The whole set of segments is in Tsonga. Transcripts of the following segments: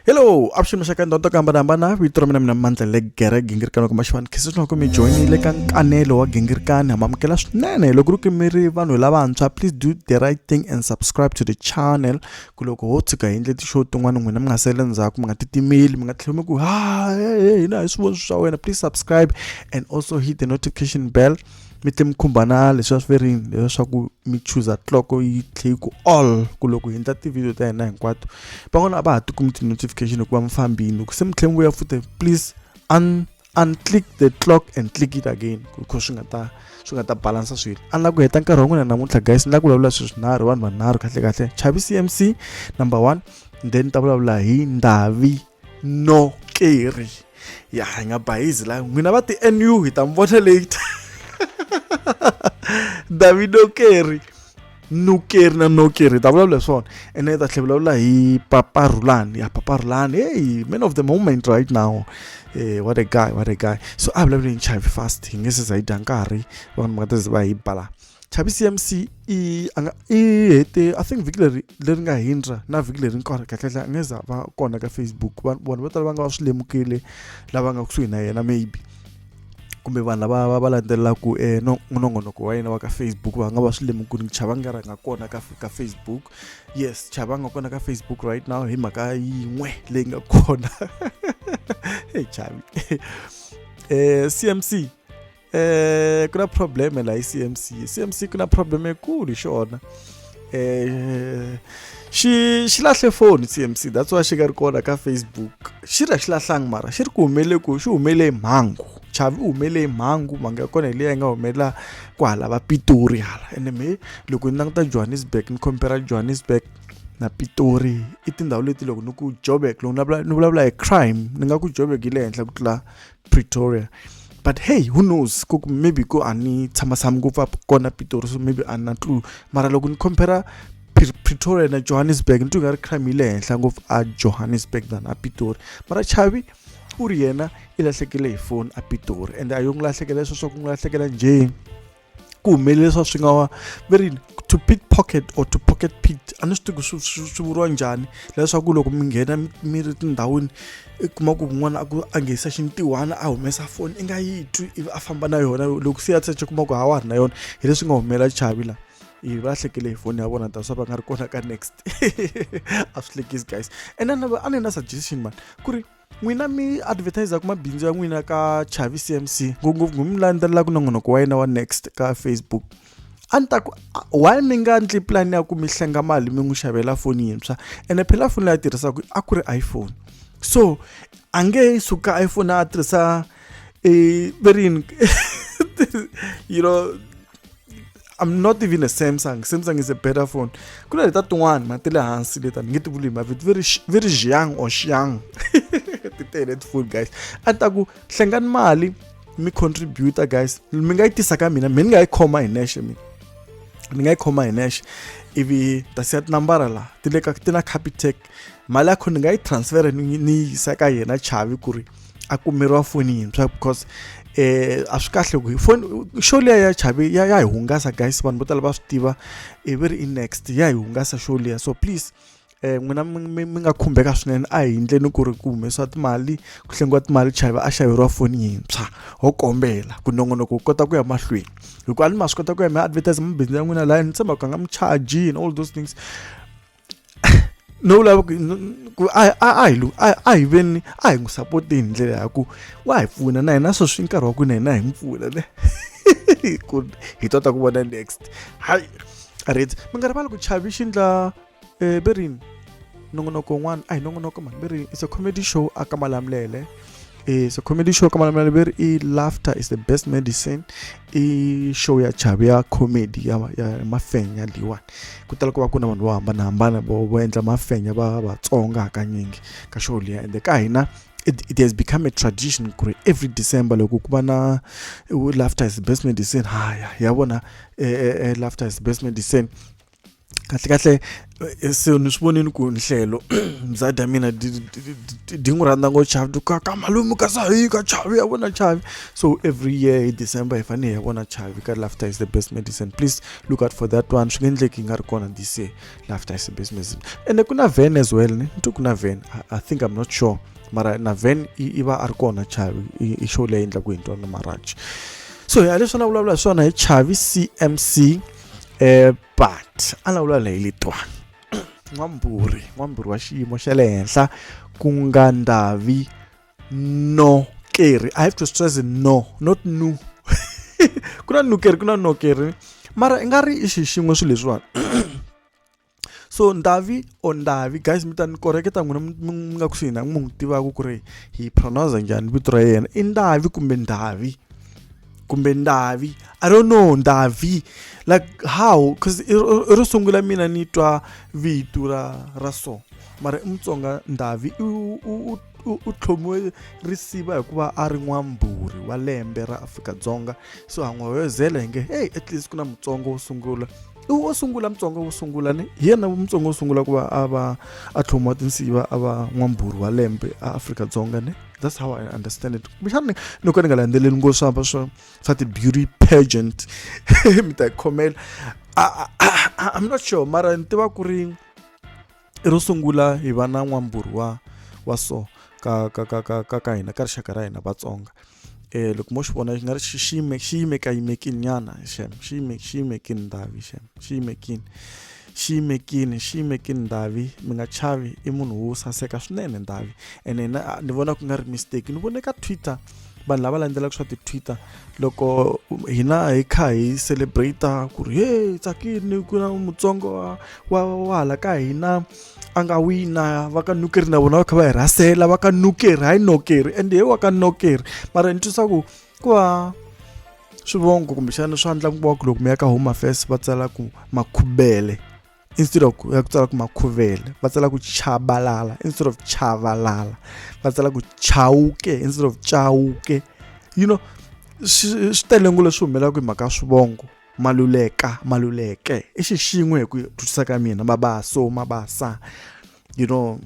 hello avuxeni maxaka ndhawu to ku hambanahambana vito ra mina mina mandla le gere gingirikani wa kuma xivani khese swinoko mi joyinile ka nkanelo wa gingirikani ha mamukela swinene loko ri kimiri vanhu lavantshwa please do the right thing and subscribe to the channel ku loko ho tshuka hi endle ti-show tin'wana n'wina mi nga sele ndzhaku mi nga titimeli mi nga tlhela mi ku ha hina hi swivoni swa wena please subscribe and also hit the notification bell mi ti mi khumba na leswiya swi verini leswiya swa ku mi chuza clock yi tlhe yi ku all ku loko hi endla ti-video ta hina hinkwato van'wana a va ha ti kumi ti-notification hikuva mi fambini loko se mi tlhe mi vuya futhi please un unclick the clock and click it again because swi nga ta swi nga ta balansa swilo a ni la ku heta nkarhi wa n'wina namuntlha guys ni la ku vulavula swilo swinharhu vanhu vanharhu kahle kahle chavi cmc number one then ni ta vulavula hi ndavi no keri ya hi nga bayizi la n'wina va ti nu hi ta mi vona late davido keri nukeri na nokeri hi ta vulavula hi swona ene hi ta tlhe vulavula hi papa rulani ya papa rulani hey man of the moment right now hey, what a guy what a guy so a vulavula hi nchavi fast hi nge se za yi dya nkarhi vanhu va nga ta ze va hi bala chavisi mc i a nga i hete i think vhiki leri leri nga hindra na vhiki leri nkarhi kahlekahle a nga za va kona ka facebook vanhu vo tala va nga va swi lemukile lava nga kusuhi na yena maybe kumbe vanhu lava va va landzelelaka eh, no nongonoko wa yena wa ka facebook va nga va swi lemukile chava nga rhanga kona ka, ka facebook yes chava nga kona ka facebook right now hi mhaka yin'we leyi nga kona hey chavi eh, cmc eh ku na problem la hi CMC CMC ku na problem ekulu hi xona eh xi xi lahle foni CMC that's why xi ka ri kona ka Facebook xi ra xi lahlangi mara xi ri ku humele ku xi humele mhangu chavi u humele hi mhangu mhangu ya kona hi leyi nga humelela kwahala va pitori hala ene me loko ni languta johannesburg ni compera johannesburg na pitori i tindhawu leti loko ni ku joburg loko ni vulavula hi crime ni nga ku joburg yi le henhla ku tlula pretoria but hey who knows ku maybe ku a ni tshama tshama ngopfu a kona pitori so maybe a na clue mara loko ni compara pretoria na johannesburg ni twi nga ri crime yi le henhla ngopfu a johannesburg than a pitori mara chavi u ri yena i lahlekele hi foni a pitori ende a yo n'wi lahlekela sweswo ku n'wi lahlekela njhe ku humelele swa swi nga wa va ri to pick pocket or to pocket pit a ni swi tivi ku swi swi swi vuriwa njhani leswaku loko mi nghena mi- mi ri tindhawini i kuma ku kun'wana a ku a nghenisa xintiwana a humesa foni i nga yi twi ivi a famba na yona loko se ya secha kuma ku ha wa ha ri na yona hi leswi nga humelela chavi laha ivi va hlekele hi foni ya vona ta swa va nga ri kona ka next a swi hlekisi guys and then a ni na suggestion mani ku ri n'wina mi advertisaka mabindzu ya n'wina ka chavi cmc ngopfungopfu mi landzelelaka nongonoko wa yena wa next ka facebook a ni ta ku why mi nga ndli pulani ya ku mi hlenga mali mi n'wi xavela foni yintshwa ene phela foni leyi a tirhisaka a ku ri iphone so a nge suka iphone a tirhisa e verini you know I'm not even a Samsung. Samsung is a better phone. Kuna leta tin'wana ma ti le hansi leta ni nge ti vuli ma vito very very xiang or xiang. Ti tele tifoni guys. A ta ku hlengani mali mi contributor guys. Mi nga yi tisa ka mina, mi nga yi khoma hi nexe mina. ni nga yi khoma hi nexe ivi ta siya tinambara laha ti le ka ti na capitec mali ya kho ni nga yi transfera ni ni yisa ka yena chavi ku ri a kumeriwa foni yintshwa because eh a swi kahle ku foni show leya ya chavi ya ya hi hungasa guys vanhu vo tala va swi tiva i ve ri i next ya hi hungasa show leya so please eh n'wina mi nga khumbeka swinene a hi endleni ku ri ku humesiwa timali ku hlengiwa timali chavi a xaveriwa foni yintshwa ho kombela ku nongonoko wu kota ku ya mahlweni hikuva a ni ma swi kota ku ya mi advertise mabusiness ya n'wina laha ni tshembaka nga mi charge and all those things no vulava ku ku a a a hi a a hi veni a hi n'wi sapoti hi ndlela ya ku wa hi pfuna na hina sweswi nkarhi wa ku na hina hi n'wi pfuna ne ku hi tota ku vona next hayi right mi nga rivali ku chavi xi ndla eh, berini nongonoko wun'wana a hi nongonoko mani berini it's a comedy show a ka malamulele e so comedy show ka malamela lebere e laughter is the best medicine i show ya chavi ya comedy ya, ya mafenya leyiwani ku tala ku va ku na vanhu vo hambanahambana vo vo endla mafenya va vatsonga hakanyingi ka show liya ende ka hina it, it has become a tradition ku ri every december loko ku va na laughter is the best medicine haya ya vona eh, eh, eh, laughter is the best medicine kahlekahle so ni swi vonile ku nhlelo mzadi ya mina di n'wi rhandza ngo chavi ka ka malume ka sahi ka chavi ya vona chavi so every year hi december hi fanele hi ya vona chavi ka laughter is the best medicine please look out for that one swi nge endleki yi nga ri kona this year laughter is the best medicine ende ku na van as well ni nto ku na van i think i'm not sure mara na van i va a ri kona chavi i show leyi endlaku hi ntwana marachi so hi leswi na vulavula hi swona hi chavi cmc eh but a lawula leyi letwani n'wamburi n'wamburi wa xiyimo xa le henhla ku nga ndavi no keri i have to stress no not nu ku na nukeri ku na nokeri mara i nga ri i xixin'we swilo leswiwani so ndavi or ndavi guys mi ta ni koreketa n'wina mi nga kusuhi na munhu tivaka ku ri hi pronounce njhani vito ra yena i ndavi kumbe ndavi kumbe ndavi i don't know ndavi like how because ro sungula mina ni twa vito ra ra so mara i mutsonga ndavi u tlhomiwe risiva hikuva a ri n'wambhuri wa lembe ra afrika-dzonga so han'wawezela hi nge heyi at least ku na mutsonga wo sungula i wo sungula mutsonga wo sungula ni hi yena mutsonga wo sungula ku va a va a tlhomiwa tinsiva a va n'wambhuri wa lembe a afrika-dzonga ni that's how i understand it kumbexani ni ko ni nga landzeleli ngo swa va swa swa ti-beauty pageant mi ta yi khomela i'm not sure mara ni tiva ku ri ro sungula hi va na n'wambhuri wa wa so ka ka ka ka ka ka hina ka rixaka ra hina vatsonga um loko mo xi vona xi nga ri xi yime xi yimekayimekini nyana xem xi yime xi yimekini ndavi xem xi yimekini xi yimekini xi yimekini ndavi mi nga chavi i munhu wo saseka swinene ndavi ene na ni vona ku nga ri mistake ni vone ka twitter vanhu lava landzelaka swa ti-twitter loko hina hi kha hi celebrate ku ri he tsakini ku na mutsongo wa wa wa hala ka hina a nga wina va ka nukeri na vona va kha va hi rhasela va ka nukeri hayi nokeri ende he wa ka nokeri mara ni twisa ku ku va swivongo kumbexana swa ndla ku va ku loko mi ya ka home affairs va tsala ku makhubele instead of ya ku tsala ku makhuvele va tsala ku chabalala instead of chavalala va tsala ku chawuke instead of chawuke you know swi tele ngo leswi humelelaka hi mhaka ya swivongo maluleka maluleke i xixin'we hi ku twisisa ka mina mabaso mabasa you know,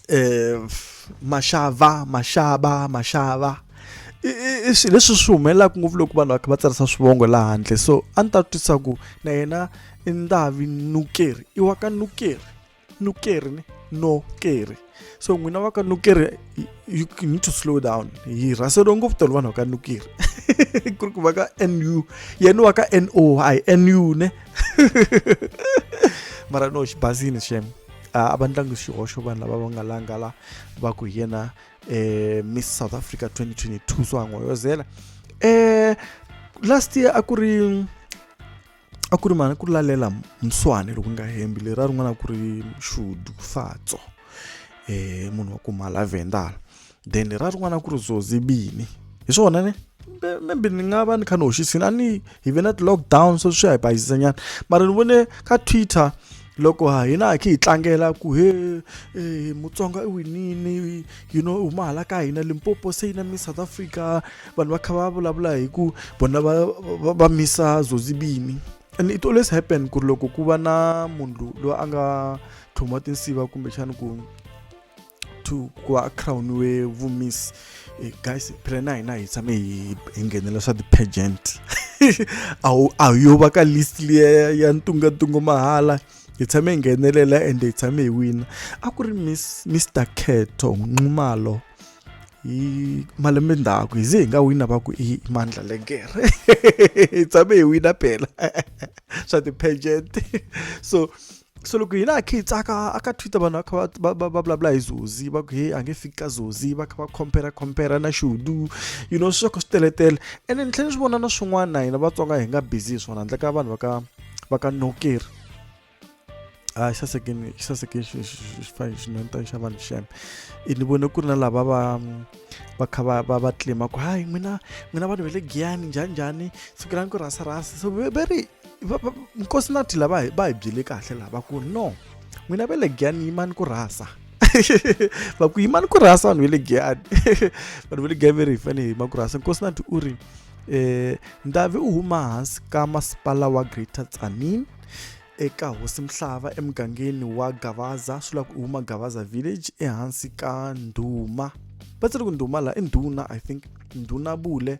eh, maxava maxava maxava leswi swi humelelaka ngopfu loko vanhu va kha va tsarisa swivongo laha handle so a ni ta twisa ku na yena i ndavi nukeri i wa ka nukeri nukeri ni nokeri so n'wina va ka nukeri you need to slow down hi rhaseriwe ngopfu tolo vanhu va ka nukeri ku ri ku va ka nu yena wa ka n o hi nu ne mara no xi basile xem a va ndlangi xihoxo vanhu lava va nga langa la va ku hi yena um miss south africa 2022 swa n'wayozela um eh, last year a ku ri a ku ri mani ku ri lalela mswane loko nga hembi leri a rin'wana a ku ri shudu fatso um munhu wa ku mhala vendala then ra rin'wana ku ri zozi bini hi swona ne maybe ni nga va ni kha ni hoxisini a ni hi ve na ti-lockdown so swi ya hi bayisisa nyana mara ni vone ka twitter loko ha hina hi khe hi tlangela ku he eh, mutsonga i winini you know huma hala ka hina limpopo se yi na miss south africa vanhu va kha va vulavula hi ku vona va, va, va misa zozibini and it always happen ku ri loko ku va na munhu loyi a nga tlhuma tinsiva kumbexani ku to ku va crowniwe vumiss eh, guys phela na hina hi tshame hi nghenela swa ti-pagent a hu yo va ka list liya ya ntungantungo mahala hi tshame hi nghenelela ende hi tshame hi wina a ku ri miss mr khetho nxumalo hi malembe ndzhaku hi ze hi nga wina va ku i mandla legere hi tshame hi wina phela swa ti-pagent so so loko hina a khe hi tsaka a ka twitter vanhu va kha va va va vulavula hi zozi va ku he a nge fiki ka zozi va kha va compare compare na xudu you know swi va kha swi teletele ene ni tlhela ni swi vona na swin'wana na hina vatsonga hi nga busy hi swona handle ka vanhu va ka va ka nokeri a xi sasekeni xi sasekeni xinhonta xa vanhu xeme ni vone ku ri na lava va va kha va va va tlima ku hayi n'wina n'wina vanhu va le giyani njhani njhani siku ra ni ku rhasa rhasa so very nkosi na thila va hi va hi byele kahle lava ku no n'wina va le giyani yimani ku rhasa va ku yimani ku rhasa vanhu va le giyani vanhu va le giyani va ri hi fane hi yima ku rhasa nkosi na u ri um ndavi u huma hansi ka masipala wa greater tsanin eka hosi mhlava emugangeni wa gavaza swi lava ku u huma gavaza village ehansi ka ndhuma va tsiri ku ndhuma laha i ndhuna i think ndhuna bule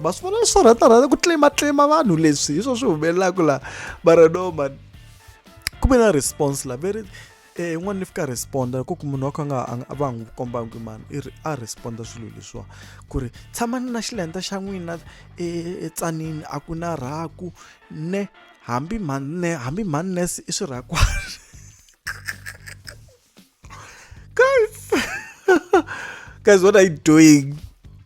ma swi vona swi rhatarhata ku tlimatlima vanhu leswi hi swo swi humelelaka laha mara no mani ku ve na response la very eh, n'wana ni fika responda ku ku munhu wa kha nga a va n'wi kombanga ku mani i ri a responda swilo leswiwa ku ri tshamani na xilenta xa n'wina etsanini a ku na rhaku ne hambi mhani ne hambi mhani nurse i swirhakwani guys guys what are you doing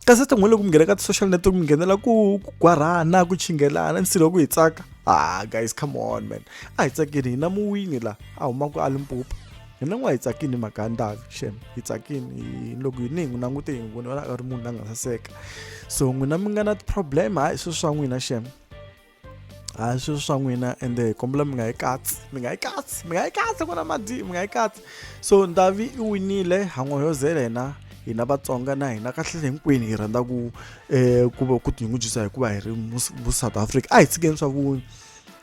kasi tin'we loko mi nghena ka ti-social network mi nghenela ku ku gwarhana ku chingelana nsilo ku hi tsaka ah guys come on man a hi tsakini hina muwini la a humaka a limpopo hina n'wa hi tsakini mhaka ya ndavi xem hi tsakini loko hi ni hi n'wi langute hi n'wi voni vona a ri munhu la nga saseka so n'wina mi nga na ti-problem hayi swi swa n'wina xem a hi sweswo swa n'wina ende hi kombela mi nga yi katsi mi nga yi katsi mi nga yi katsi ku na madi mi nga yi katsi so ndavi i winile han'oyozela yena hina vatsonga na hina kahle hinkwenu hi rhandza ku um ku va ku tinyungubyisa hikuva hi ri mu south africa a hi tshikeni swa vu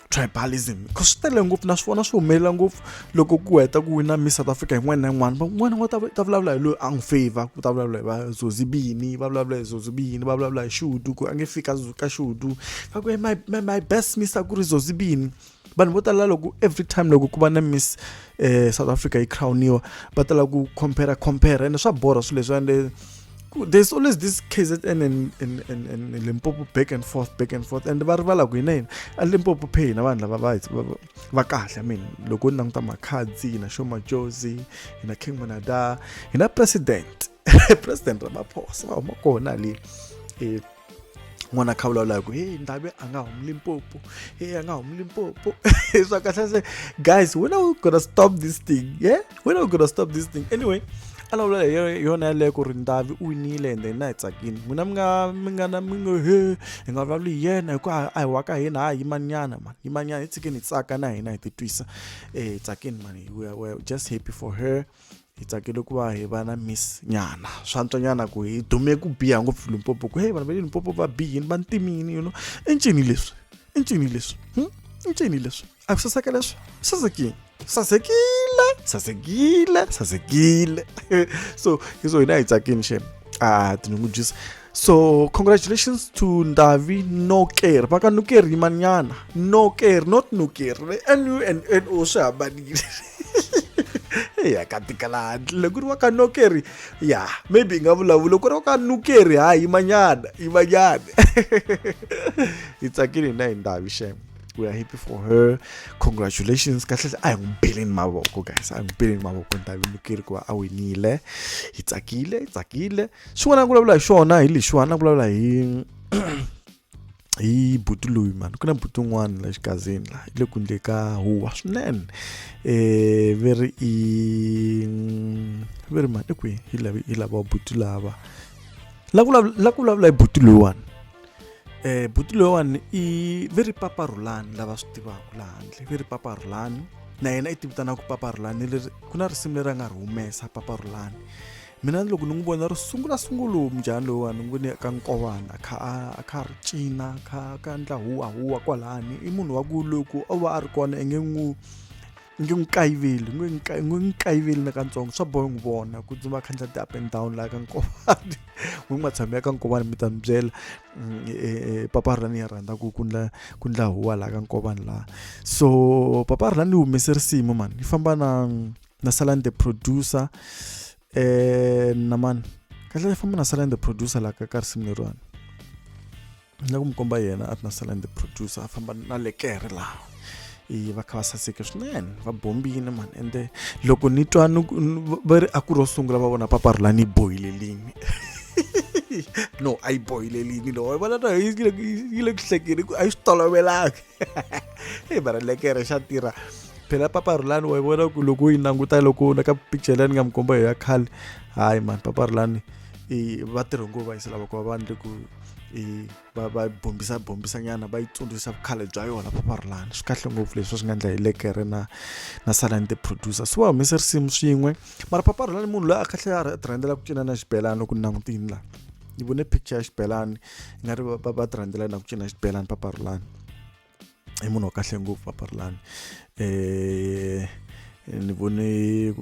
tribalism because swi tele ngopfu na swi vona swi humelela ngopfu loko ku heta ku wina miss south africa yin'wana na yin'wana van'wana va ta vulavula hi loyi a n'wi favor ku ta vulavula hi va zozibini va vulavula hi zozibini va vulavula hi xudu ku a nge fika ka xudu va ku my, my, my best miss a ku ri zozibini vanhu vo tala loko every time loko ku va na miss eh, south africa yi crowniwa va tala ku compare compare ene swa borha swilo leswi ende there's always this KZN and, and, and, and Limpopo back and forth back and forth and va rivala ku hina hina a Limpopo phe hina vanhu lava va va kahle min loko u languta makhadzi hi na xomajozi hi na king monada hi na president president ramaphosa va huma kona le e, n'wana kha vulavulaka ku heyi ndave a nga humi limpopo heyi a nga humi limpopo swa kahle se guys when are we gonna stop this thing yeah we're not gonna stop this thing anyway a lawula hi yo- yona yaleyo ku ri ndavi u winile and then na hi tsakini n'wina mi nga mi nga na mi ngo he hi nga vulavuli hi yena hikuva a hi wa ka hina ha yimanyana mani yimanyana hi tshikeni hi tsaka na hina hi titwisa um hi tsakini mani we are- we are just happy for her hi tsakele ku va hi va na miss nyana swa ntswanyana ku hi dume ku biha ngopfu limpopo ku he vanhu va le limpopo va bihini va ntimini you know i ncini leswi i ncini leswi hmm? i ncini leswi A ku saseka leswi sasekile sasekile sasekile sasekile so hi so hina hi tsakini xem a tinyungubyisa so congratulations to ndavi noker va ka noker yimanyana noker not noker n u n n o swi hambanile ya ka tikalandle loko ri wa ka nokeri ya maybe hi nga vulavula loko ri wa ka nukeri ha yimanyana yimanyana hi tsakile hina hi ndavi xeme we are happy for her congratulations kahle a hi n'wi beleni mavoko guys a hi n'wi beleni mavoko ni ta vimukeri ku va a winile hi tsakile hi tsakile xin'wana na ku vulavula hi xona hi lexiwani na ku vulavula hi hi buti loyi mani ku na buti un'wana la xikazini la le kundle ka huwa swinene um ve ri i ve ri mani kwihi hi lava hi lava buti lava la ku vulavula hi buti loyiwani eh buti loyiwani i ve ri papa rhulani lava swi tivaka laha handle ve ri papa rhulani na yena i tivitanaka papa rhulani leri ku na risimu leri a nga ri humesa papa rhulani mina loko ni n'wi vona ri sungula sungulu mujahani loyiwani ni vone ka nkovana a kha a kha ri cina kha ka ndla huwa huwa kwalani i munhu wa ku loko o va a ri kona i nge n'wi nge n'wi kayiveli nge n'wi kayiveli na katsongo swa boha n'wi vona ku dzima khandla ti up and down laha ka nkovani n'wi n'wi matshami ya ka nkovani mi ta mi byela mm, e, e, e, papa rani ya rhandza ku kundla kundla huwa laha ka nkovani laha so papa rani humese risimu mani yi famba na na salani the producer eh na mani kahle i famba na sala the producer la ka ka risimu leriwani ni la ku mi komba yena a ri na sala the producer a famba na le kere laha i va kha va saseke swinene va bombile mani ende loko ni twa va ri a ku ro sungula va vona papa rula ni bohile limi no a yi bohile limi lowa vona yi le ku hlekeni a yi swi tolovelanga hey bara lekere xa tirha phela papa rulani wa vona ku loko u yi languta loko na ka picture leyi ni nga mi komba hi ya khale hayi mani papa rulani va tirhe ngo va yisela vakova vanhu le ku va va bombisa bombisa nyana va yi tsundzuxa vukhale bya yona papa rulani swi kahle ngopfu leswi swi nga endla hi lekere na na salani the producer swi va humese risimu swin'we mara papa rulani munhu loyi a kahle a rhandela ku cina na xibelani loko ni langutini laha ni vone picture ya xibelani i nga ri va va ti rhandzela na ku cina xibelani papa rulani i munhu wa kahle ngopfu papa rulani um ni vone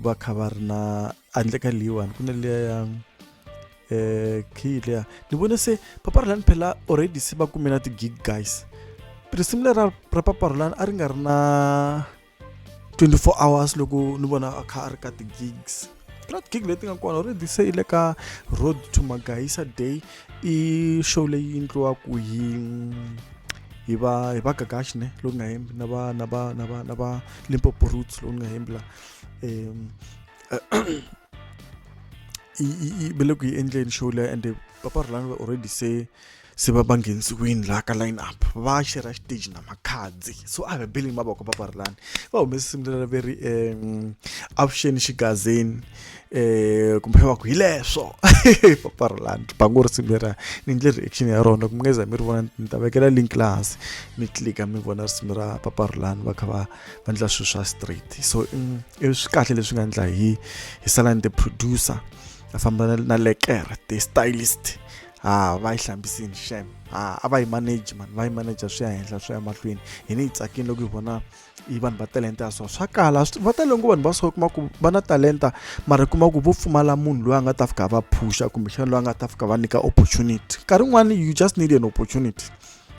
va kha va ri na handle ka leyiwani ku na liya ya um eh, khiyi liya ni vone se papa rulani phela already se va kume na ti-gig guys risimu lera ra papa rulani a ri nga ri na 24 hours loko ni vona a kha a ri ka ti-gigs not gig leti nga kona already se yi le ka road to magayisa day i show leyi endliwaku hi hi va hi va gagashi ne loku nga hembi na va na va na va na va limpopo roots loku nga hembi la um i i i bele ku yi endleni show leyi ende papa rhulani already se se va va nghenisiwini laha ka line up va xera xiteji na makhadzi so a hi beleni mavoko va parilani va humese simu leri ve ri um avuxeni xigazeni um kumbe va ku hi leswo va parilani bango ri simu leriya ni ndle reaction ya rona kumbe ngeza mi ri vona ni ta vekela link lahasi mi tlika mi vona risimu ra paparilani va kha va va endla swilo swa straight so mm, i swi kahle leswi nga endla hi hi salani the producer a famba na lekere the stylist ha va yi hlambisini xem ha a va yi manage mani va yi manager swi ya henhla swi ya mahlweni hi ni yi tsakini loko hi vona yi vanhu va talenta ya so swa kala va tale ngo vanhu va so kuma ku va na talenta mara kuma ku vo pfumala munhu loyi a nga ta fika va phusha kumbexana loyi a nga ta fika va nyika opportunity nkarhi wun'wana you just need an opportunity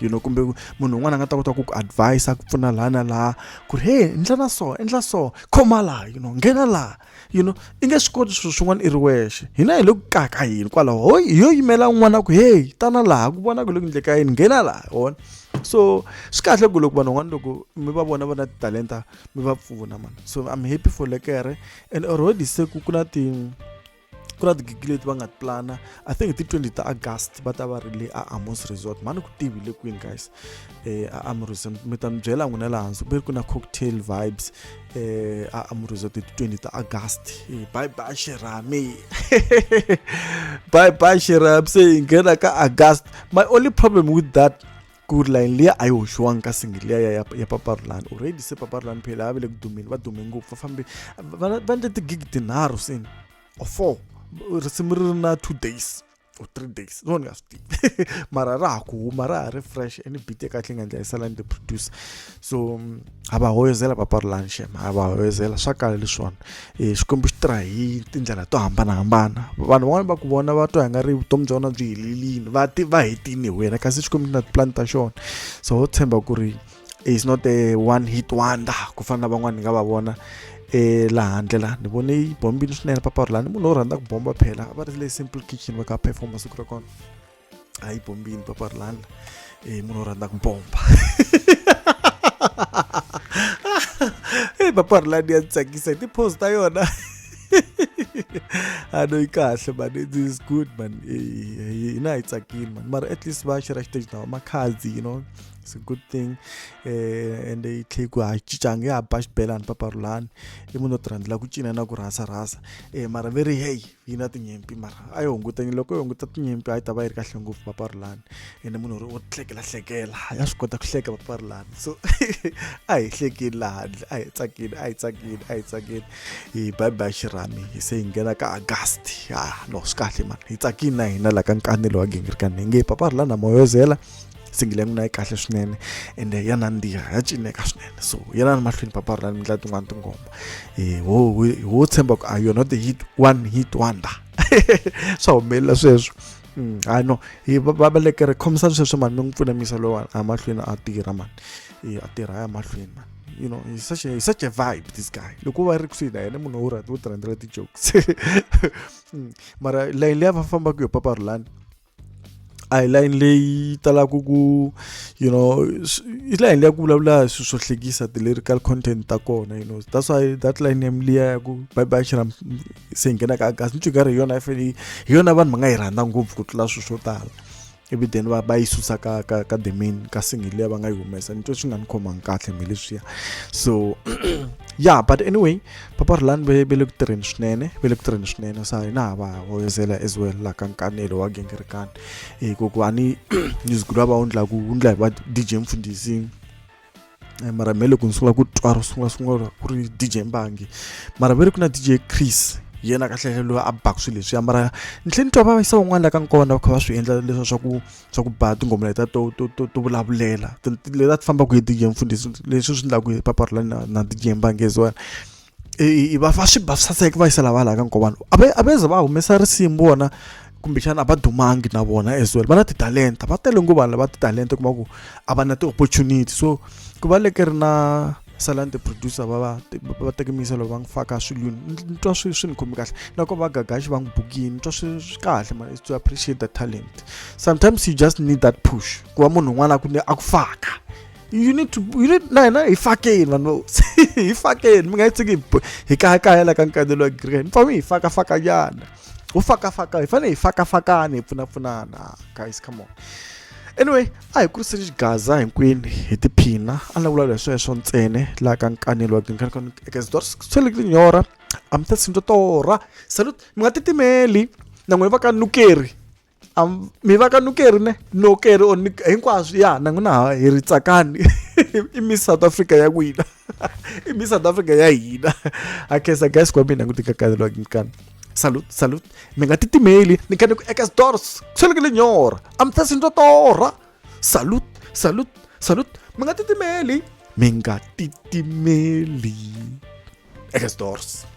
you know kumbe munhu un'wana a nga ta kota ku ku advise ku pfuna laha na laha ku ri hey endla na so endla so khoma laha you know nghena laha you know i nge swi koti swilo swin'wana i ri wexe hina hi le ku kaka yini kwalaho ho hi yo yimela un'wana ku heyi tana laha ku vona ku le ku endleka yini nghena laha wona so swi kahle ku loko vanhu van'wana loko mi va vona va na titalenta mi va pfuna mani so i'm happy for lekere and already se ku ku na ti ku na tigigi leti va nga ti plana i think ti 20 ta august va ta va ri le a amos resort mhani ku tivile kwini guys eh a amruza mi ta mi byela n'wina laha hansi ku ku na cocktail vibes eh a amruza ti 20 ta august eh, bye bye shirami bye bye shirami se hi nghena ka august my only problem with that ku ri line liya a yi hoxiwangi ka single liya ya, ya, ya paparulani already se paparulani phela a va le ku dumeni va dume ngopfu va fambe va endle tigigi tinharhu seni or four risimu ri ri na two days or three days no ni nga swi tivi mara ra ha ku huma ra ha ri fresh and beat ya kahle yi nga ndla yi sala ni the producer so mm, ha va hoyozela papa rilanshem ha va hoyozela swa kala leswiwani um eh, xikwembu xi tirha hi tindlela to hambanahambana vanhu van'wana va ku vona va twa hi nga ri vutomi bya vona byi helelini va ti va hetini hi wena kasi xikwembu xi na tipulani ta xona so ho tshemba ku ri is not a one hit wonder ku fana na van'wana ni nga va vona e laha handle la ni vone yi bombile swinene papawuri lani munhu wo rhandza ku bomba phela a va ri le simple kitchen va ka performa siku ra kona a yi bombile papawuri lani e munhu wo rhandza ku bomba e papawuri lani ya tsakisa hi ti-pose ta yona I know you can't, but it is good, man. You know, it's a kid, man. But at least, why should I stage now? My cards, you know. it's a good thing eh ende yi tlhe ku hacicangi ya ba xibelani papa rulani i munhu o ti rhandzela ku cina na ku rhasa rhasa eh mara ve ri heyi yi na tinyimpi mara a yi hungutanyini loko yi hunguta tinyimpi a yi ta va yi ri kahle ngopfu papa rulani ende munhu ri o hlekela hlekela ya swi kota ku hleka papa rulani so a hi hlekini laha handle a hi tsakini a hi tsakini a hi tsakini hi bye bye xirhami hi se hi nghena ka agasti ha no swi kahle mani hi tsakini na hina la ka nkanelo wa gingirikani hi nge papa rulani na moyozela singile n'wina yi kahle swinene ende ya nandziha ya cineka swinene so yelani mahlweni papa ri na ni ndlela tin'wana tingoma eh, ho tshemba ku a ah, yona the hit one hit wonder swa humelela sweswo mm, hayi no hi vabalekere khomisa sweswo mani mi n'wi pfuna misa lowa a mahlweni a tirha mani eh, a tirha ya mahlweni mani you know he's such a he's such a vibe this guy loko va ri kusuhi na yena munhu wo rhandza wo tirhandzela ti-jokes mm, mara layini leyi a va fambaka yo papa rulani a hi layini leyi talaka ku you know i layini leya ku vulavula hi swilo swo hlekisa ti-lyrical content ta kona you know that's why that line yam liya ya ku bye bye xiram se hi nghenaka agasi ni twikari hi yona i fanele hi yona vanhu va nga yi rhandza ngopfu ku tlula swilo swo tala ivi then va va yi susa ka ka ka the main ka single leyi va nga yi humesa ni twe swi nga ni khomangi kahle mhe leswiya so yeah but anyway papa rhulani ve ve le ku tirheni swinene ve le ku tirheni swinene sa hina ha va hoyozela as well la ka nkanelo wa gengerekani hi ku ku a ni music lowa va wu ndlaku wu ndla hi va d j mfundhisi eh, mara me loko ni sungula ku twa ro sungula sungula ku ri d j mbangi mara ve ri ku na d j chris yena kahlele loyi a baku swilo leswiya mara ni tlhe ni twa va yisa van'wana la ka nkona va kha va swi endla leswa swa ku swa ku ba tinghoma leta to to to to vulavulela leti a ti fambaka hi DJ Mfundhisi leswi swi endlaku hi papa ri na na DJ Mbangezi wena i va va swi ba saseka va yisela va laha ka nkovana a va a va ze va humesa risimu vona kumbexana a va dumangi na vona as well va na titalenta va tele ngopfu vanhu lava titalenta kuma ku a va na ti-opportunity so ku va leke ri na salani ti-producer va va va teke miyiselo va n'wi faka swilwini ni twa swi swi ni khomi kahle loko va gagaxi va n'wi bukini ni twa swi swi kahle mara to appreciate the talent sometimes you just need that push ku va munhu un'wana a ku a ku faka you need to you need na hina hi fakeni vanhu hi fakeni mi nga yi tsiki hi kayakaya la ka nkandelo wa green mi fanele hi fakafakanyana u fakafaka hi fanele hi fakafakana hi pfunapfunana guys come on anyway a hi kuriseni xigaza hinkwenu hi tiphina a ni vulavula hi sweswo ntsene laha ka nkanelo wa tinkanelo eka zidwari swele tinyora a mi ta sindwa torha salut mi nga titimeli na n'wina va ka nukeri mi va ka nukeri ne nokeri or hinkwaswo ya na n'wina ha hi ri tsakani i miss south africa ya n'wina i mi south africa ya hina akhensa guys kwami mina ngutikakalelwa ngikani salut salut mi nga titimeli ni khane ku eka switori swi le nyora a mi ta swi ndzo torha salut salut salut mi nga titimeli mi nga titimeli eka switori